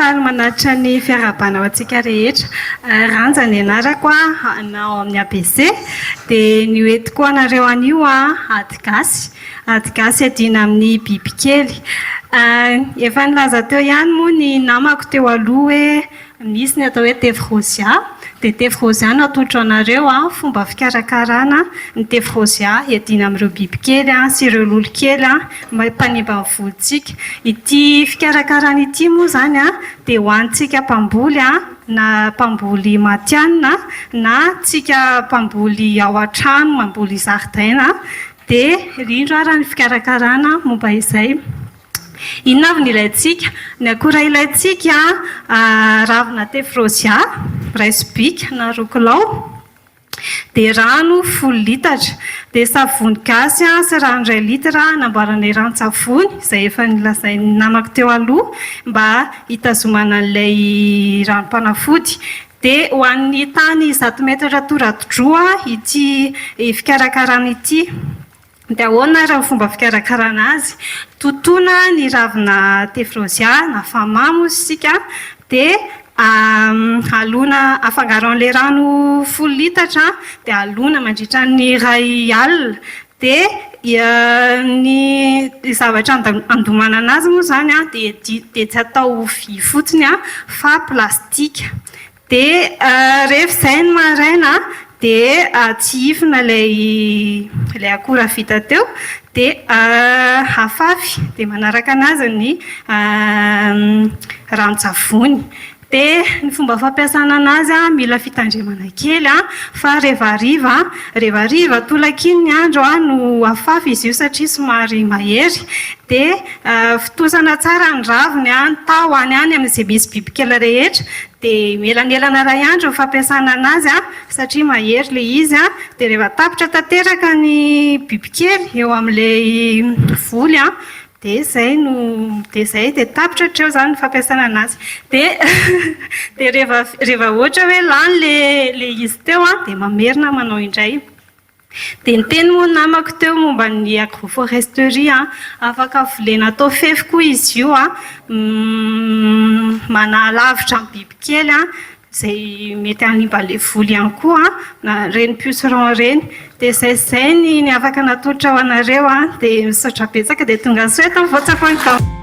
faly manatitra ny fiarahabana ho antsika rehetra. Eh, Ranja ny anarako anao amin'ny ABC. Dia ny hoentiko anareo anio ady gasy. Ady gasy adina amin'ny bibikely. Eh, efa nilaza teo ihany moa ny namako teo aloha hoe Nisy ny atao hoe tefy rôzia, dia tefy rôzia natolotro anareo fomba fikarakarana ny tefy rôzia hiadiana amin'ireo bibikely sy ireo lolokely mpanimba ny volontsika. Ity fikarakarana ity moa izany dia ho antsika mpamboly na mpamboly matihanina na tsika mpamboly ao an-trano mamboly zaridaina dia indrindra ary ny fikarakarana momba izay. Inona avy no ilaintsika? Ny akora ilaintsika, ravina tephrosia iray sobika na roa kilao, dia rano folo litatra, dia savony gasy sy rano iray litatra namboaranay ranon-tsavony izay efa nolazain'ny namako teo aloha mba hitazomana an'ilay ranom-panafody. Dia ho an'ny tany zato metatra toradroa ity fikarakarana ity. Dia ahoana ary ny fomba fikarakarana azy? Totoina ny ravina tephrosia na famam hozy isika dia alona, afangaro amin'ilay rano folo litatra dia alona mandritra ny iray alina. Dia ny zavatra andomanana azy moa izany dia tsy atao vy fotsiny fa plastika. Dia rehefa izay ny maraina dia tsihifina ilay ilay akora vita teo dia afafy dia manaraka anazy ny ranon-tsavony. Dia ny fomba fampiasana anazy an, mila fitandremana kely an, fa rehefa hariva rehefa hariva tolak'iny ny andro no afafy izy io satria somary mahery dia Fontosana tsara ny raviny an, taho any any amin'izay misy bibikely rehetra, dia eo elanelana iray andro ny fampiasana an'azy an, satria mahery ilay izy an, dia rehefa tapitra tanteraka ny bibikely eo amin'ilay voly an, dia izay no, dia izay, dia tapitra hatreo izany ny fampiasana an'azy. Dia dia rehefa rehefa ohatra hoe lany ilay ilay izy teo an, dia mamerina manao indray. Dia niteny moa ny namako teo momba ny agroforesterie an! Afaka volena atao fefy koa izy io an! Manalavitra ny bibikely an! Izay mety hanimba ilay voly ihany koa an! Na ireny pucerons ireny! Dia izay sy izay ny ny afaka natolotra ho anareo an! Dia misaotra betsaka dia tongasoa eto ny voatsapain'i Gaomafy.